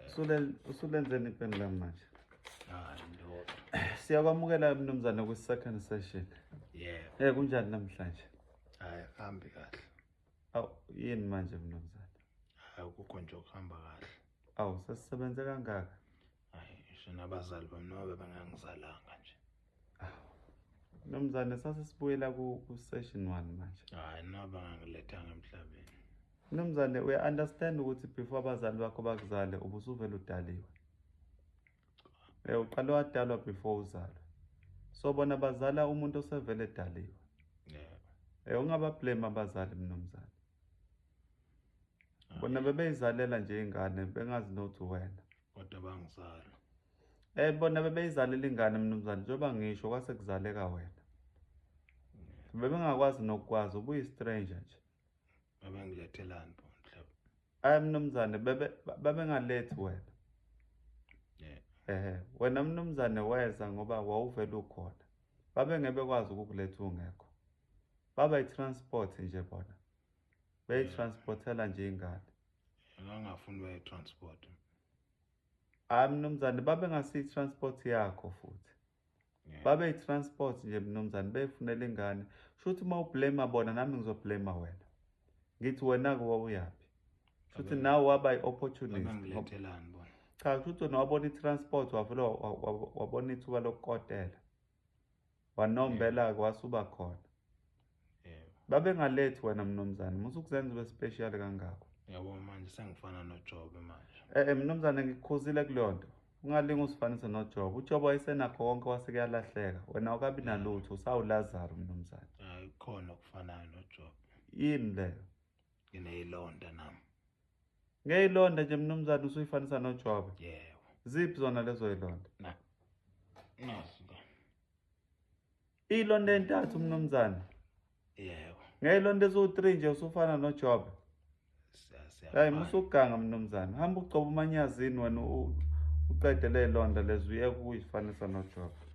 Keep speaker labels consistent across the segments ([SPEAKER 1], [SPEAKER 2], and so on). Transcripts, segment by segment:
[SPEAKER 1] Usule usulenzeni ipeni lami manje.
[SPEAKER 2] Hayi ndoda. Siyakwamukela
[SPEAKER 1] mnumzane ku second session. Yebo. Eh
[SPEAKER 2] kunjani namhlanje?
[SPEAKER 1] Hayi hambi
[SPEAKER 2] kahle. Aw
[SPEAKER 1] yini manje mnumzane? Hayi ukukho
[SPEAKER 2] nje ukuhamba kahle. Aw sesisebenze
[SPEAKER 1] kangaka. Hayi ngisho
[SPEAKER 2] nabazali bami nobe bangangizalanga nje. Nomzane
[SPEAKER 1] sase sibuyela ku session 1 manje. Hayi naba
[SPEAKER 2] ngilethanga emhlabeni. Nomzane
[SPEAKER 1] uya understand ukuthi before abazali bakho bakuzale ubusuvela udaliwe. Eh uqale wadalwa before uzalwa. So bona bazala umuntu osevele edaliwe.
[SPEAKER 2] Yeah. Eh ungaba blame
[SPEAKER 1] abazali mnomzane. Bona bebeyizalela nje ingane bengazi nothi wena. kodwa bangizala
[SPEAKER 2] eh bona
[SPEAKER 1] bebeyizalela ingane mnumzane njengoba ngisho kwase kuzaleka wena bebengakwazi nokukwazi ubuyi stranger nje baba ngilethelani
[SPEAKER 2] bo mhlaba ay mnumzane
[SPEAKER 1] bebe babengalethi wena yeah ehe wena mnumzane weza ngoba wawuvela ukhona babe ngeke bekwazi ukukuletha ungekho baba i-transport nje bona beyitransportela nje ingane Ngangafuni
[SPEAKER 2] baye transport.
[SPEAKER 1] Hayi mnumzane babe ngasi transport yakho futhi. Babe transport nje mnumzane befunela ingane. Shuthi uma ublame bona nami ngizoblame wena. Ngithi wena ke wawuyaphi? Shuthi nawe waba iopportunist. Ngithelani
[SPEAKER 2] bona. Cha shuthi wena wabona
[SPEAKER 1] itransport wavula wabona ithuba lokukotela. wanombela-ke wasuba khona
[SPEAKER 2] babengalethi
[SPEAKER 1] wena mnumzane musa ukuzenza ube special kangako yabo manje
[SPEAKER 2] sengifana nojobe manje eh, eh mnumzane ngikukhuzile
[SPEAKER 1] kuleyo nto ungalinga usifanise nojobe ujobe wayesenakho konke wasekuyalahleka wena awukabi nalutho usawulazaro mnumzane hayi khona
[SPEAKER 2] okufanayo nojobe yini leyo
[SPEAKER 1] ngineyilonda
[SPEAKER 2] nam ngeyilonda
[SPEAKER 1] nje mnumzane usuyifanisa nojwabe yebo ziphi
[SPEAKER 2] zona lezo
[SPEAKER 1] yilonda na nazi la iyilonda entathu mnumzane yebo
[SPEAKER 2] ngeyilonda eziwu-three
[SPEAKER 1] nje usufana nojwabe hayi musuganga mnumzane hamba ugcoba umanyazini wena uqede leyilonda lezi uyeka ukuyifanisa nojwabe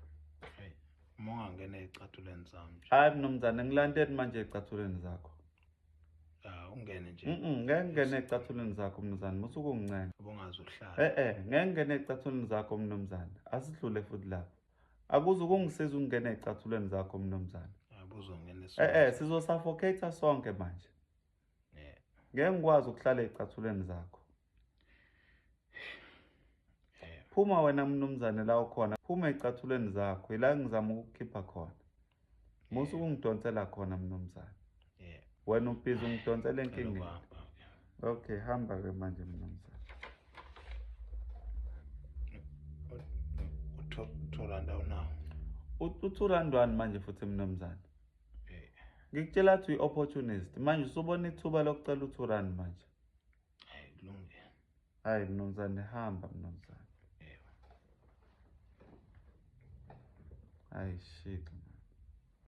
[SPEAKER 2] mongangena ezicathulweni zami hayi mnumzane ngilandeni
[SPEAKER 1] manje ezicathulweni zakho
[SPEAKER 2] ungene nje ngeke ngene ecathulweni
[SPEAKER 1] zakho mnumzane musa ukungincela ubongazi uhlala eh
[SPEAKER 2] eh ngeke ngene
[SPEAKER 1] ecathulweni zakho mnumzane asidlule futhi lapho akuze ukungisiza ukungena ecathulweni zakho mnumzane abuzongena eh
[SPEAKER 2] eh sizosuffocate
[SPEAKER 1] sonke manje
[SPEAKER 2] ngeke ngikwazi ukuhlala
[SPEAKER 1] ecathulweni zakho phuma wena mnumzane la ukhona phuma ezicathulweni zakho yila ngizama ukukhipha khona musa ukungidonsela khona mnumzane wena
[SPEAKER 2] ubhizi
[SPEAKER 1] ungidonsela enkingeni okay
[SPEAKER 2] hamba ke manje
[SPEAKER 1] mnumzane
[SPEAKER 2] uthoranda unawo uthurandwani
[SPEAKER 1] manje futhi mnumzane ngikutshela ukuthi uyi-opportunist manje usubona ithuba lokucela uthurani manje Hayi
[SPEAKER 2] kulungile. Hayi mnumzane
[SPEAKER 1] hamba mnumzane. Yebo. Hayi shit.